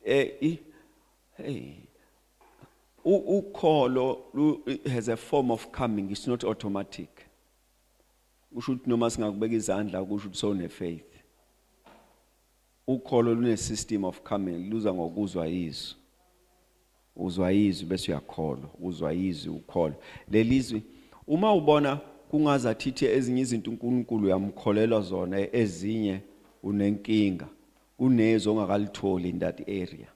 eh i- hey U- ukholo lu- it has a form of coming it's not automatic kusho ukuthi noma singakubeka izandla kusho ukuthi sone faith ukholo lune system of coming luza ngokuzwa izwi Uzwa izwi bese uyakholwa, uzwa izwi ukholwa. Lelizwi uma ubona kungaza thithi ezinye izinto uNkulunkulu uyamkholelwa zona ezinye unenkinga kunezwi ongakalitholi in that area.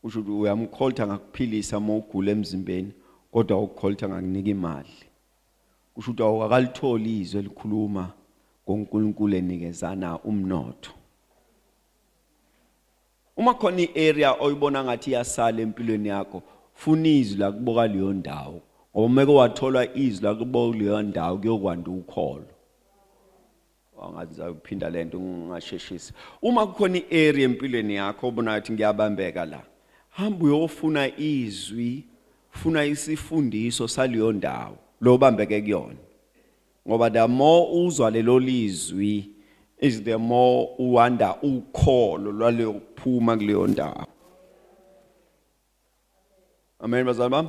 Usho ukuthi uyamkholta ngakuphilisa uma ugula emzimbeni kodwa ukholta ngakunika imali. Kusho ukuthi awukakalitholi izwi elikhuluma ngoNkulunkulu enikezana umnotho. Uma khona i-area oyibona ngathi iyasala empilweni yakho, funa izwi lakubo kaleyo ndawo. Ngoba uma ke wathola izwi lakubo kuleyo ndawo kuyokwanda ukholo. Angathi ngizayiphinda lento ngingasheshisi. Uma kukhona i-area empilweni yakho obona ngathi ngiyabambeka la, hamba uyofuna izwi, funa isifundiso saleyo ndawo lo bambeke kuyona. ngoba the more uzwa lelo lizwi is the more uwanda ukholo lwaleyo kuphuma kuleyo ndawo amen bazalwane bami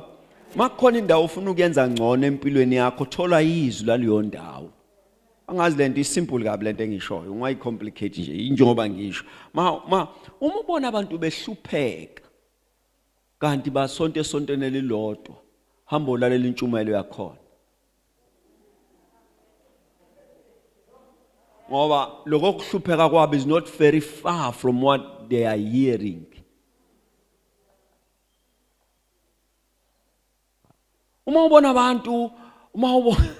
makukhona indawo ufuna ukuyenza ngcono empilweni yakho thola izwi laleyo ndawo angazi lento isimple kabi lento engishoyo ungayicomplicate nje injengoba ngisho ma uma ubona abantu behlupheka kanti basonto esontweni elilodwa hamba ulalela intshumayelo yakhona ngoba lokho kuhlupheka kwabo is not very far from what they are hearing uma ubona abantu uma ubona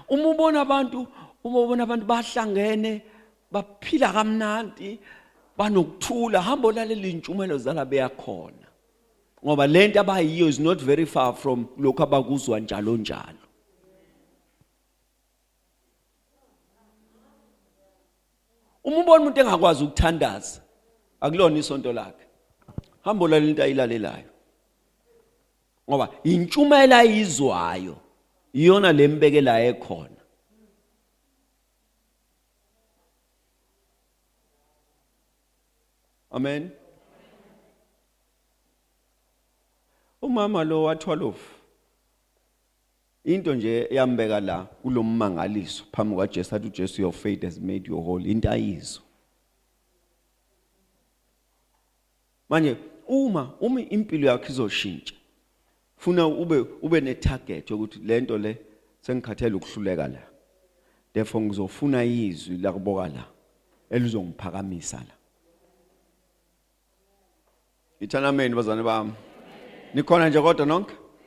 uma ubona abantu uma ubona abantu bahlangene baphila kamnandi banokuthula hamba olaleli intshumayelo zala beyakhona ngoba lento abayiyo is not very far from lokho abakuzwa njalo njalo uma ubona umuntu engakwazi ukuthandaza akulona isonto lakhe hambo lalela into ayilalelayo ngoba intshumayela ayizwayo iyona lembekela ekhona amen umama lo wathwalofu Into nje eyambeka la kulommangaliso phambi kwaJesu athi uJesu your faith has made you whole into ayizwa. Manje uma uma impilo yakho izoshintsha funa ube ube ne target yokuthi lento le sengikhathele ukuhluleka la. Therefore ngizofuna izwi la kuboka la elizongiphakamisa la. Ithanameni bazane bami. Nikhona nje kodwa nonke?